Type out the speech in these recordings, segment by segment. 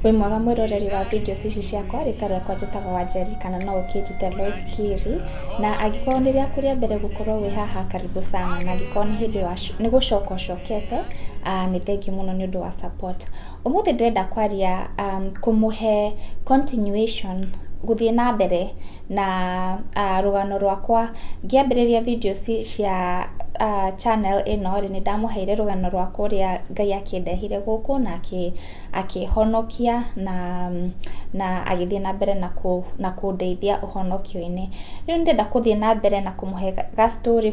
wĩ mwega mwĩroreri wa video ici ciakwa rĩta rĩakwa njĩtaga wa njeri kana no ũkĩnjite Lois Kiri na angĩkorwo nĩ rĩaku rĩa mbere gũkorwo wĩ haha karibu sana na angĩkorwo nĩ hĩndĩ wa nĩ gũcoka ũcokete ah, nĩ thengi mũno nĩ ũndũ wa support ũmũthĩ ndĩrenda kwaria um, kũmũhe continuation gũthiĩ na mbere na rũgano rwakwa, ngĩambĩrĩria video cia channel ĩno rĩ, nĩ ndamũheire rũgano rwakwa ũrĩa Ngai akĩndehire gũkũ na akĩhonokia na agĩthiĩ na mbere na kũndeithia ũhonokio-inĩ. Rĩu nĩ ndĩrenda gũthiĩ na mbere na kũmũhe ga story,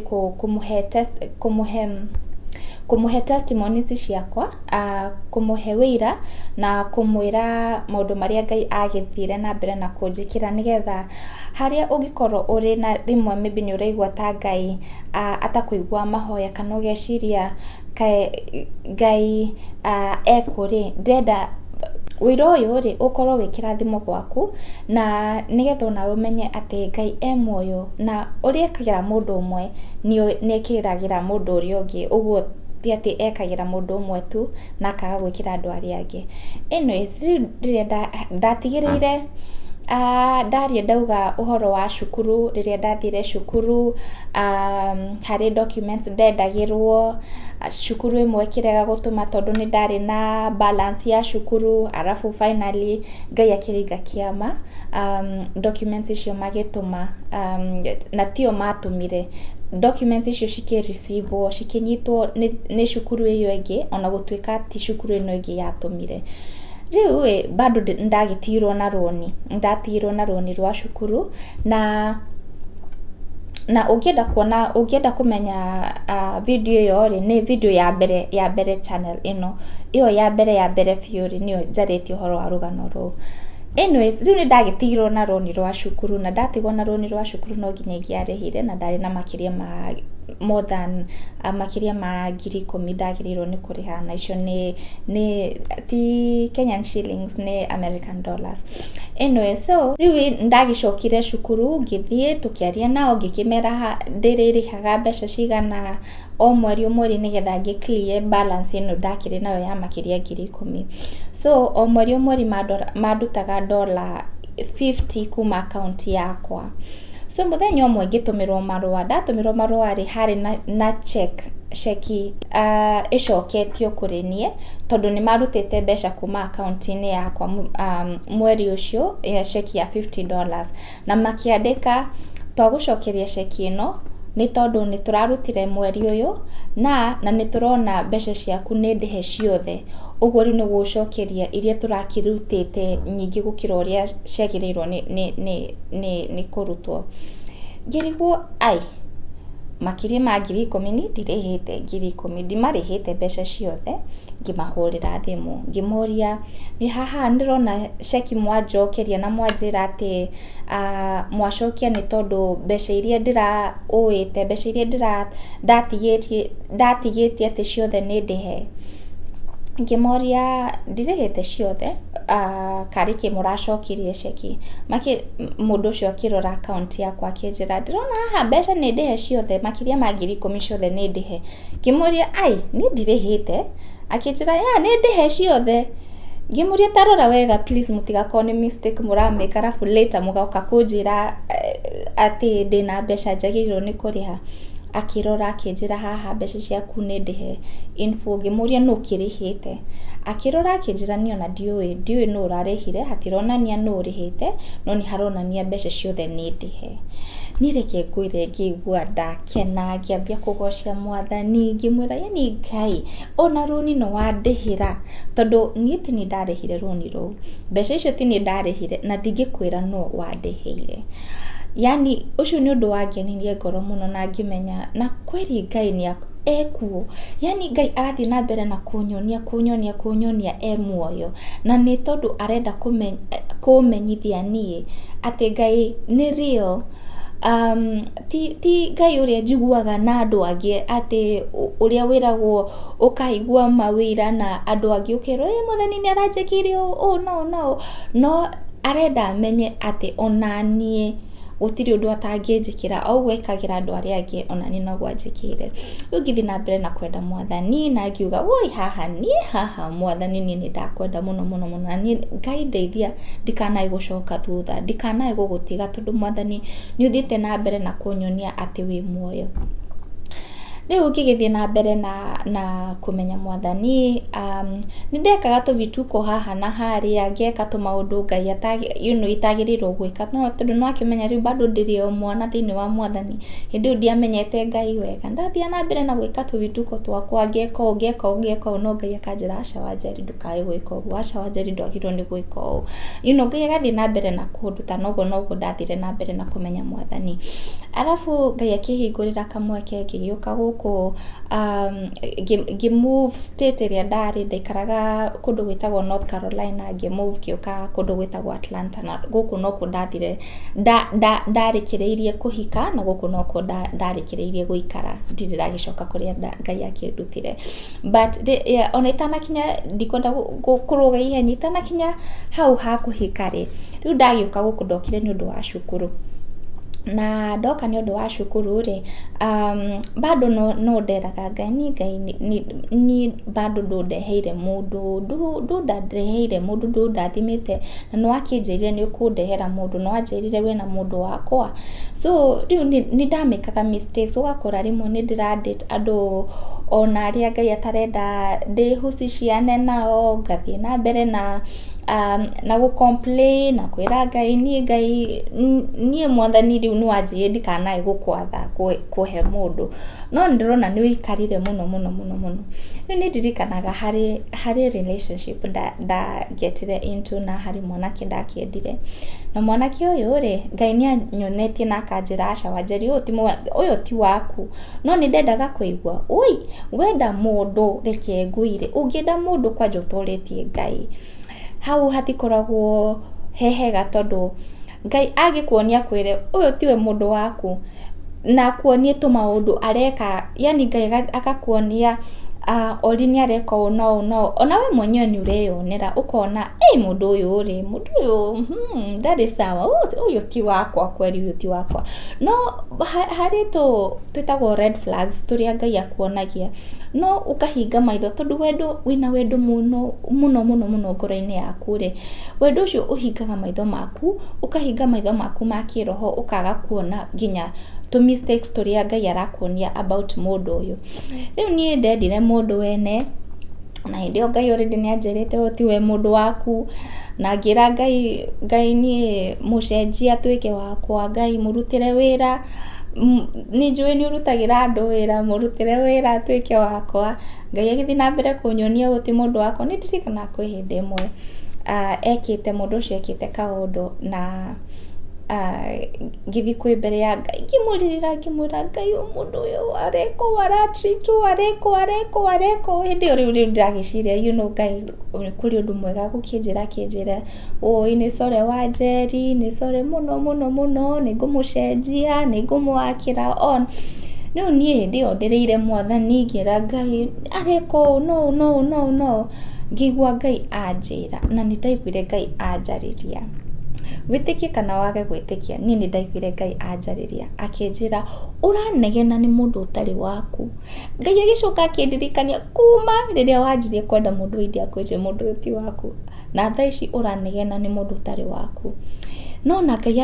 kũmũhe testimonies ciakwa. kũmũhe ũira na kũmwĩra maũndũ marĩa Ngai agĩthire na mbere na kũnjĩkĩra nĩ getha harĩa ũngĩkorwo ũrĩ na rĩmwe maybe nĩ ũraigua ta Ngai atakũiguaga mahoya kana ũgeciria kaĩ Ngai ekũ rĩ, ndĩrenda ũira ũyũ rĩ ũkorwo wĩ kĩrathimo gwaku na nĩ getha onawe ũmenye atĩ Ngai e muoyo na ũrĩa ekagĩra mũndũ ũmwe nĩ ekagĩra mũndũ ũrĩa ũngĩ. ti atĩ ekagĩra mũndũ ũmwe tu na akaga gwĩkĩra andũ arĩa angĩ. Anyways rĩu ndĩrenda, ndatigĩrĩire ndaria ndauga ũhoro wa cukuru, rĩrĩa ndathire cukuru, harĩ documents ndendagĩrwo, cukuru ĩmwe ĩkĩrega gũtũma tondũ nĩ ndarĩ na balance ya cukuru, arabu finally Ngai akĩringa kĩama, documents icio magĩtũma, na ti o matũmire, documents icio cikĩ receive. Civũ cikĩnyitwo nĩ, nĩ cukuru ĩyo ĩngĩ, ona gũtuĩka ti cukuru ĩno ĩngĩ yatũmire. Rĩu ĩ, bado nĩ ndagĩtigirwo na rũni, nĩ ndatigirwo na rũni rwa cukuru, na na ũngĩenda kuona, ũngĩenda kũmenya video ĩyo rĩ, nĩ video ya mbere, ya mbere channel ĩno, ĩyo ya mbere ya mbere biũ rĩ, nĩyo njarĩtie ũhoro wa rũgano rũu. Anyways, rĩu nĩ ndagĩtigirwo na rũni rwa cukuru, na ndatigwo na rũni rwa cukuru no nginya ingĩarĩhire, na ndarĩ na makĩria ma more than makĩria ma ngiri ikũmi ndagĩrĩirwo nĩ kũrĩha, na icio nĩ nĩ ti Kenyan shillings nĩ American dollars. Anyways, so rĩu nĩ ndagĩcokire cukuru, ngĩthiĩ tũkĩaria nao, ngĩkĩmera ndĩrĩrĩhaga mbeca cigana. o mweri o mweri nĩgetha ngĩ clear balance ĩno ndakĩrĩ nayo ya makĩria ngiri ikũmi. So o mweri o mweri mandutaga ndora fifty kuma akaunti yakwa. So mũthenya ũmwe ngĩtũmĩrwo marũa, ndatũmĩrwo marũa rĩ, harĩ na cheque, ceki ĩcoketio kũrĩ niĩ tondũ nĩ marutĩte mbeca kuma akaunti-inĩ yakwa mweri ũcio, ceki ya fifty dollars. Na makĩandĩka, Twagũcokeria ceki ĩno, nĩ tondũ nĩ tũrarutire mweri ũyũ, na, na nĩ tũrona mbeca ciaku nĩ ndĩhe ciothe. Ũguo rĩu nĩ gũgũcokeria iria tũrakĩrutĩte nyingĩ gũkĩra ũrĩa ciagĩrĩirwo nĩ nĩ nĩ nĩ nĩ kũrutwo. Ngĩrigwo ai, makĩria ma ngiri ikũmi niĩ ndirĩhĩte ngiri ikũmi, ndimarĩhĩte mbeca ciothe, ngĩmahũrĩra thimũ ngĩmoria Ĩĩ haha nĩ ndĩrona ceki mwanjokeria na mwanjĩra atĩ mwacokia nĩ tondũ mbeca iria ndĩraũĩte, mbeca iria ndatigĩtie atĩ ciothe nĩ ndĩhe. Ngĩmoria ndirĩhĩte ciothe karĩ kĩ mũracokirie ceki? Mũndũ ũcio akĩrora akaunti yakwa akĩnjĩra ndũrona haha mbeca nĩ ndĩhe ciothe makĩria ma ngiri ikũmi ciothe nĩ ndĩhe? Ngĩmũria aai niĩ ndirĩhĩte. Akĩnjĩra yeah nĩ ndĩhe ciothe. Ngĩmũria ta rora wega please mũtigakorwo nĩ mistake mũra make arabu later mũgoka kũnjĩra atĩ ndĩna mbeca njagĩrĩirwo nĩ kũrĩha. Akĩrora akĩnjĩra haha mbeca ciaku nĩ ndĩhe in full. Ngĩmũria nũ ũkĩrĩhĩte. Akĩrora akĩnjĩra niĩ ona ndiũĩ, ndiũĩ nũ ũrarĩhire, hatironania nũ ũrĩhĩte, no nĩ haronania mbeca ciothe nĩ ndĩhe. Niĩ reke ngwĩre ngĩigua nda... ngĩkena ngĩambia kũgoca mwathani ngĩmwĩra yaani Ngai ona rũni nĩ wandĩhĩra tondũ niĩ ti niĩ ndarĩhire rũni rũu, mbeca icio ti niĩ ndarĩhire na ndingĩkwĩra nũ wandĩhĩire. Yaani ũcio nĩ ũndũ wangenirie ngoro mũno na ngĩmenya na kweli Ngai nĩ ekuo. Yaani Ngai arathiĩ na mbere na kũnyonia kũnyonia kũnyonia e muoyo na nĩ tondũ arenda kũmenyithia niĩ atĩ Ngai nĩ real. Ti ti Ngai ũrĩa njiguaga na andũ angĩ atĩ ũrĩa wĩragwo ũkaigua mawĩra na andũ angĩ ũkerwo ĩ mwathani nĩ aranjĩkĩire ũũ na ũũ na ũũ, no arenda menye atĩ onaniĩ gũtirĩ ũndũ atangĩnjĩkĩra, o ũguo ekagĩra andũ arĩa angĩ onaniĩ noguo anjĩkĩire. Rĩu ngĩthiĩ na mbere na kwenda mwathani na ngiuga woi haha niĩ haha mwathani niĩ nĩ ndakwenda mũno mũno mũno na niĩ Ngai ndeithia ndikanae gũcoka thutha, ndikanae gũgũtiga. tondũ mwathani nĩ ũthiĩte na mbere na kũnyonia atĩ wĩ muoyo. Rĩu ngĩgĩthiĩ na mbere na kũmenya mwathani, nĩ ndekaga tũvituko haha na harĩa, ngeka tũmaũndũ Ngai you know itagĩrĩirwo gwĩka, no tondũ nĩ ũrakĩmenya rĩu bado ndĩrĩ o mwana thĩinĩ wa mwathani, hĩndĩ ĩyo ndiamenyete Ngai wega. Ndathiaga na mbere na gwĩka tũvituko twakwa, ngeka ũũ ngeka ũũ ngeka ũũ no Ngai akanjĩra aca wanja Lindo. kaĩ gwĩka ũguo, aca wanjeri ndwagĩrĩirwo nĩ gwĩka ũũ. You know Ngai agathiĩ na mbere na kũnduta na ũguo noguo ndathire na mbere na kũmenya mwathani. Arabu Ngai akĩhingũrĩra kamweke ngĩgĩũka gũkũ ngĩ move state ĩrĩa ndarĩ, ndaikaraga kũndũ gwĩtagwo North Carolina ngĩ move ngĩũka kũndũ gwĩtagwo Atlanta na gũkũ nokuo ndathire ndarĩkĩrĩirie kũhika na gũkũ nokuo ndarĩkĩrĩirie gũikara ndirĩ ndagĩcoka kũrĩa Ngai akĩndutire. But ona itanakinya, ndikwenda kũrũga ihenya, itanakinya hau ha kũhika rĩ, rĩu ndagĩũka gũkũ ndokire nĩ ũndũ wa cukuru. Na ndoka nĩ ũndũ wa cukuru rĩ, bado no nderaga Ngai, niĩ Ngai niĩ bado ndũndeheire mũndũ, ndũndeheire mũndũ, ndũndathimĩte, na nĩ wakĩnjĩrire nĩ ũkũndehera mũndũ, nĩ wanjĩrire wĩna mũndũ wakwa. So rĩu nĩ ndamĩkaga mistakes, ũgakora rĩmwe nĩ ndĩra date. andũ ona arĩa Ngai atarenda ndĩhusiciane nao, ngathiĩ na mbere na na gũ complain na kwĩra Ngai niĩ Ngai niĩ mwathani rĩu nĩ wanjĩrĩirie ndikanae gũkwatha kũhe mũndũ, no nĩ ndĩrona nĩ wĩikarire mũno mũno mũno, rĩu nĩ ndirikanaga harĩ harĩ relationship nda get ire into na harĩ mwanake ndakĩendire, na mwanake ũyũ rĩ Ngai nĩ anyonetie na akanjĩra aca Wanjeri ũyũ ti waku. No nĩ ndendaga kũigua ũi, wenda mũndũ reke ngũire, ũngĩenda mũndũ kwanja ũtoretie Ngai. Hau hatikoragwo he hega tondũ Ngai angĩkuonia akwĩre ũyũ tiwe mũndũ waku, na akuonie tũmaũndũ areka, yaani Ngai agakuonia Ori nĩ areka ũũ na ũũ na ũũ, ona we mwenyewe nĩ ũreyonera ũkona ĩ mũndũ ũyũ rĩ, mũndũ ũyũ ndarĩ sawa, ũyũ ti wakwa kweri ũyũ ti wakwa. No harĩ tũ twĩtagwo red flags tũrĩa Ngai akuonagia, no ũkahinga maitho tondũ wendo wĩna wendo mũno mũno mũno mũno ngoro-inĩ yaku rĩ, wendo ũcio ũhingaga maitho maku, ũkahinga maitho maku ma kĩroho ũkaga kuona nginya tũ mistakes tũrĩa Ngai arakuonia about mũndũ ũyũ. Rĩu niĩ ndendire mũndũ wene. Na hĩndĩ ĩyo Ngai already nĩ anjĩrĩte ũyũ tiwe mũndũ waku, na ngĩra Ngai, Ngai niĩ mũcenjie atuĩke wakwa, Ngai mũrutĩre wĩra, nĩ njũĩ nĩ ũrutagĩra andũ wĩra, mũrutĩre wĩra atuĩke wakwa. Ngai agĩthiĩ na mbere kũnyonia ũyũ ti mũndũ wakwa. Nĩ ndirikanaga kwĩ hĩndĩ ĩmwe ekĩte, mũndũ ũcio ekĩte kaũndũ na... ngĩthiĩ kwĩ mbere ya Ngai ngĩmũrĩrĩra ngĩmwĩra Ngai ũyũ mũndũ ũyũ areka ũũ ara treat ũũ areka ũũ areka ũũ areka ũũ, hĩndĩ ĩyo rĩu nĩndĩragĩciria you know Ngai kũrĩ ũndũ mwega agũkĩnjĩra akĩnjĩre ũũ nĩ sore wanjeri, nĩ sore mũno mũno mũno, nĩngũmũcenjia, nĩngũmũgakĩra on. Rĩu niĩ hĩndĩ ĩyo ndereire mwathani ngĩra Ngai areka ũũ na ũũ na ũũ. Ngĩigua Ngai anjĩra, na nĩ ndaiguire Ngai anjarĩria. Wĩtĩkie kana wage gwĩtĩkia, niĩ nĩ ndaiguire Ngai anjarĩria akĩnjĩra, ũranegena nĩ mũndũ ũtarĩ waku. Ngai agĩcoka akĩndirikania kuma rĩrĩa wanjirie kwenda mũndũ wa India akwĩre mũndũ ũyũ ti waku, na thaa ici ũranegena nĩ mũndũ ũtarĩ waku. No ona Ngai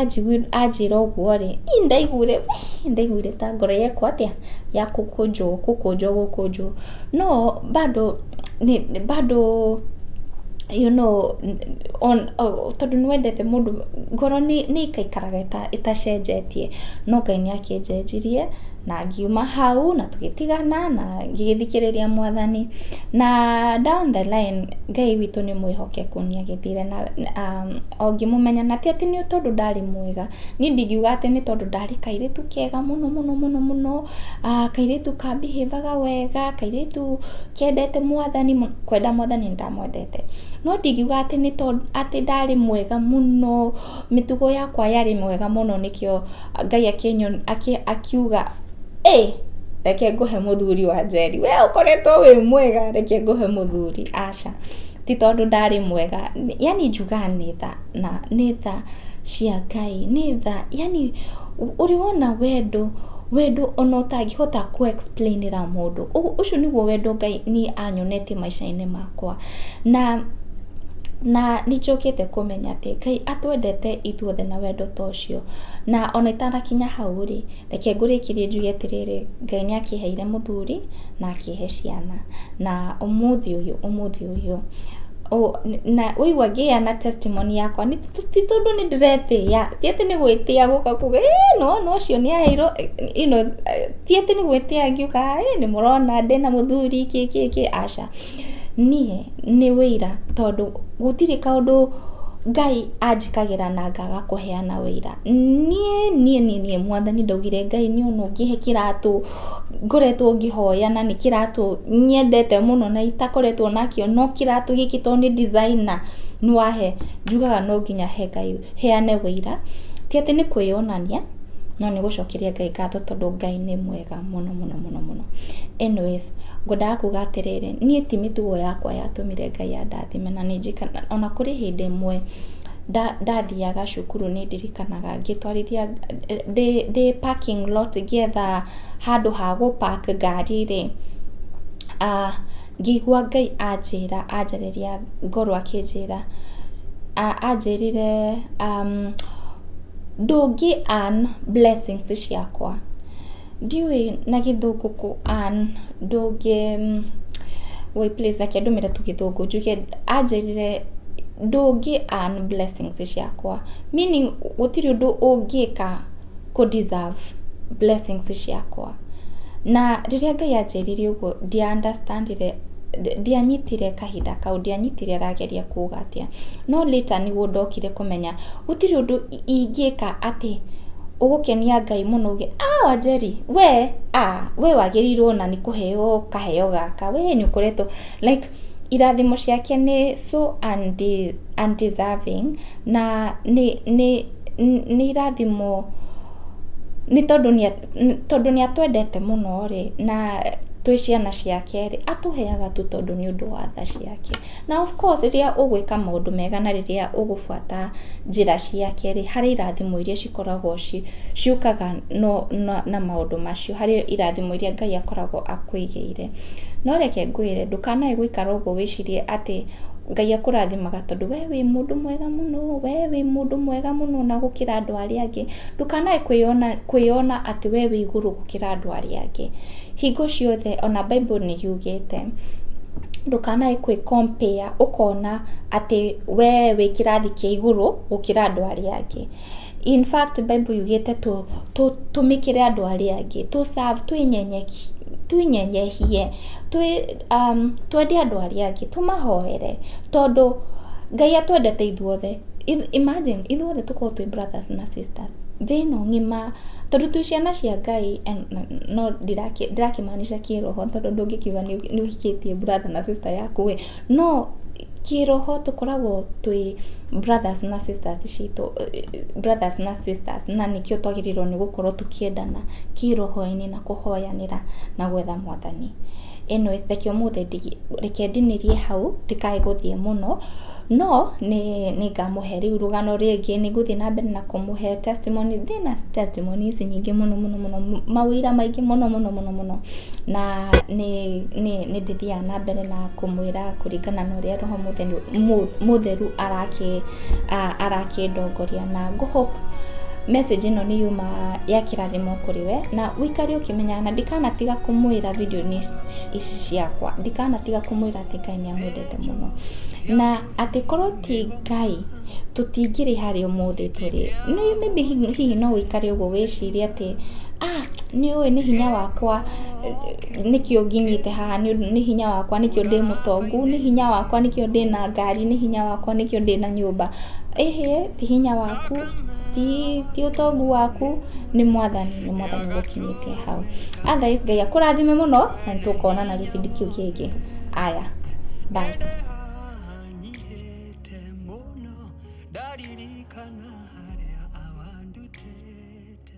anjĩra ũguo rĩ, niĩ nĩ ndaiguire nĩ ndaiguire ta ngoro yakwa atĩa, ya kũkũnjwo kũkũnjwo gũkũnjwo. No bado... nĩ bado you know tondũ nĩ wendete mũndũ, ngoro nĩ ĩikaikaraga ĩtacenjetie, no Ngai nĩ akĩnjenjirie na ngiuma hau na tũgĩtigana na ngĩgĩthikĩrĩria mwathani, na down the line Ngai witũ nĩ mwĩhokeku nĩ agĩthire na ngĩmũmenya na ti atĩ nĩ tondũ ndarĩ mwega, Niĩ ndingiuga atĩ nĩ tondũ ndarĩ kairĩtu kega mũno mũno mũno mũno, kairĩtu ka behave aga wega, kairĩtu kendete mwathani, kwenda mwathani nĩ ndamwendete. No ndingiuga atĩ nĩ tondũ atĩ ndarĩ mwega mũno, mĩtugo yakwa yarĩ mĩega mũno nĩkĩo Ngai akiuga ĩ, reke ngũhe mũthuri wanjeri. We ũkoretwo wĩ mwega reke ngũhe mũthuri, aca. ti tondũ ndarĩ mwega, yaani njugaga nĩ tha, na nĩ tha cia Ngai, nĩ tha, yaani ũrĩ wona wendo, wendo ona ũtangĩhota kũ explain ĩra mũndũ, ũcio nĩguo wendo Ngai niĩ anyonete maica-inĩ makwa, na na nĩ njũkĩte kũmenya atĩ Ngai atwendete ithuothe na wendo ta ũcio, na ona itanakinya hau rĩ. Reke ngũrĩkĩrie njuge atĩrĩrĩ, Ngai nĩ akĩheire mũthuri na akĩhe ciana. Na ũmũthĩ ũyũ, ũmũthĩ ũyũ, na waigua ngĩheana testimony yakwa ti tondũ nĩ ndĩretĩĩa, ti atĩ nĩ gwĩtĩa gũka kuga ĩĩ nĩ wona ũcio nĩ aheirwo, ti atĩ nĩ gwĩtĩa ngĩũkaga ĩĩ nĩ mũrona ndĩna mũthuri kĩ kĩ kĩ, aca. Niĩ nĩ ũira tondũ gũtirĩ kaũndũ Ngai anjĩkagĩra na ngaga kũheana ũira. Niĩ niĩ niĩ mwathani ndaugire Ngai nĩ ona ũngĩhe kĩratũ ngoretwo ngĩhoya na nĩ kĩratũ nyendete mũno na itakoretwo nakĩo no kĩratũ gĩkĩ tondũ nĩ designer nĩ wahe, njugaga no nginya he Ngai, heane ũira. Ti atĩ nĩ kwĩyonania no nĩ gũcokeria Ngai ngatho tondũ Ngai nĩ mwega. mũno mũno mũno mũno. Anyways, ngwendaga kuga atĩrĩrĩ, niĩ ti mĩtugo yakwa yatũmire Ngai andathime na nĩ njikaraga, ona kũrĩ hĩndĩ ĩmwe ndathiaga cukuru nĩ ndirikanaga ngĩtwarithia, ndĩ parking lot ngĩetha handũ ha gũ park ngari rĩ, ngĩigua Ngai anjĩra, anjarĩria ngoro akĩnjĩra, anjĩrire Ndũngĩ earn blessings ciakwa. Ndiũĩ na gĩthũngũ kũ earn, ndũngĩ, wait please reke ndũmĩre tu gĩthũngũ, njuge, anjĩrire ndũngĩ earn blessings ciakwa, meaning gũtirĩ ũndũ ũngĩka kũ deserve blessings ciakwa. Na rĩrĩa Ngai anjĩrire ũguo ndia understand ire, ndianyitire kahinda kau, ndianyitire arageria kuuga atĩa, no later nĩguo ndokire kũmenya. Gũtirĩ ũndũ ingĩka atĩ ũgũkenia Ngai mũno uge ah Wanjeri we ah we wagĩrĩirwo ona nĩ kũheo kaheo gaka we nĩ ũkoretwo like irathimo ciake nĩ so undeserving na nĩ nĩ nĩ irathimo nĩ tondũ nĩ tondũ nĩ atwendete mũno rĩ na twĩ ciana ciake rĩ atũheaga tu tondũ nĩ ũndũ wa tha ciake. Na of course rĩrĩa ũgwĩka maũndũ mega na rĩrĩa ũgũbuata njĩra ciake rĩ, harĩ irathimo iria cikoragwo ciũkaga na maũndũ macio, harĩ irathimo iria Ngai akoragwo akwĩigĩire. No reke ngwĩre ndũkanae gũikara ũguo wĩcirie atĩ Ngai akũrathimaga tondũ we wĩ mũndũ mwega mũno, we wĩ mũndũ mwega mũno ona gũkĩra andũ arĩa angĩ. Ndũkanae kwĩyona atĩ we wĩ igũrũ gũkĩra andũ arĩa angĩ. Hingo ciothe ona Bible nĩ yugĩte ndũkanae kwĩ compare ũkona atĩ we wĩ kĩrathi kĩa igũrũ gũkĩra andũ arĩa angĩ. In fact Bible yugĩte tũmĩkĩre andũ arĩa angĩ, tũ serve, twĩnyenyehie. Twende andũ arĩa angĩ tũmahoere tondũ Ngai atwendete ithuothe. Imagine ithuothe tũkorwo twĩ brothers na sisters thĩ ĩno ng'ima, tondũ twĩ ciana cia Ngai, no ndirakĩmaanisha kĩĩroho tondũ ndũngĩkiuga nĩ ũhikĩtie brother na sister yaku ĩ, no kĩĩroho tũkoragwo twĩ brothers na sisters citũ, brothers na sisters na nĩkĩo twagĩrĩirwo nĩ gũkorwo tũkĩendana kĩĩroho-inĩ na kũhoyanĩra na gwetha... Mwathani. Ĩno reke ũmũthĩ reke ndinĩrie hau ndikae gũthiĩ mũno, no nĩ nĩ ngamũhe rĩu rũgano rĩngĩ, nĩ ngũthiĩ na mbere na kũmũhe testimony ndĩ na testimony ici nyingĩ mũno mũno mũno maũira maingĩ mũno mũno mũno mũno, na nĩ nĩ nĩ ndĩthiaga na mbere na kũmwĩra kũringana na ũrĩa Roho Mũtheri Mũtheru arakĩ arakĩndongoria na ngũ hope message ĩno nĩ yuma yakĩra. Thimo kũrĩ we na ũikare ũkĩmenyaga na ndikanatiga kũmwĩra video-inĩ ici ciakwa ndikanatiga kũmwĩra atĩ Ngai nĩ amwendete mũno na atĩ korwo ti Ngai tũtingĩrĩ harĩa ũmũthĩ tũrĩ Nĩ- maybe hi- hihi no ũikare ũguo wĩcirie atĩ ah nĩ ũĩ nĩ hinya wakwa eh, nĩkĩo nginyĩte haha nĩ ũndũ- nĩ hinya wakwa nĩkĩo ndĩ mũtongu nĩ hinya wakwa nĩkĩo ndĩ na ngari nĩ hinya wakwa nĩkĩo ndĩ na nyũmba ĩhĩ Ti hinya waku, ti, ti ũtongu waku, nĩ mwathani, nĩ mwathani ũgũkinyĩtie hau. Otherwise Ngai akũrathime mũno, na nĩ tũkonana gĩbindi kĩu kĩngĩ. Aya, bye. ndanyihĩte mũno ndaririkana harĩa awandutĩte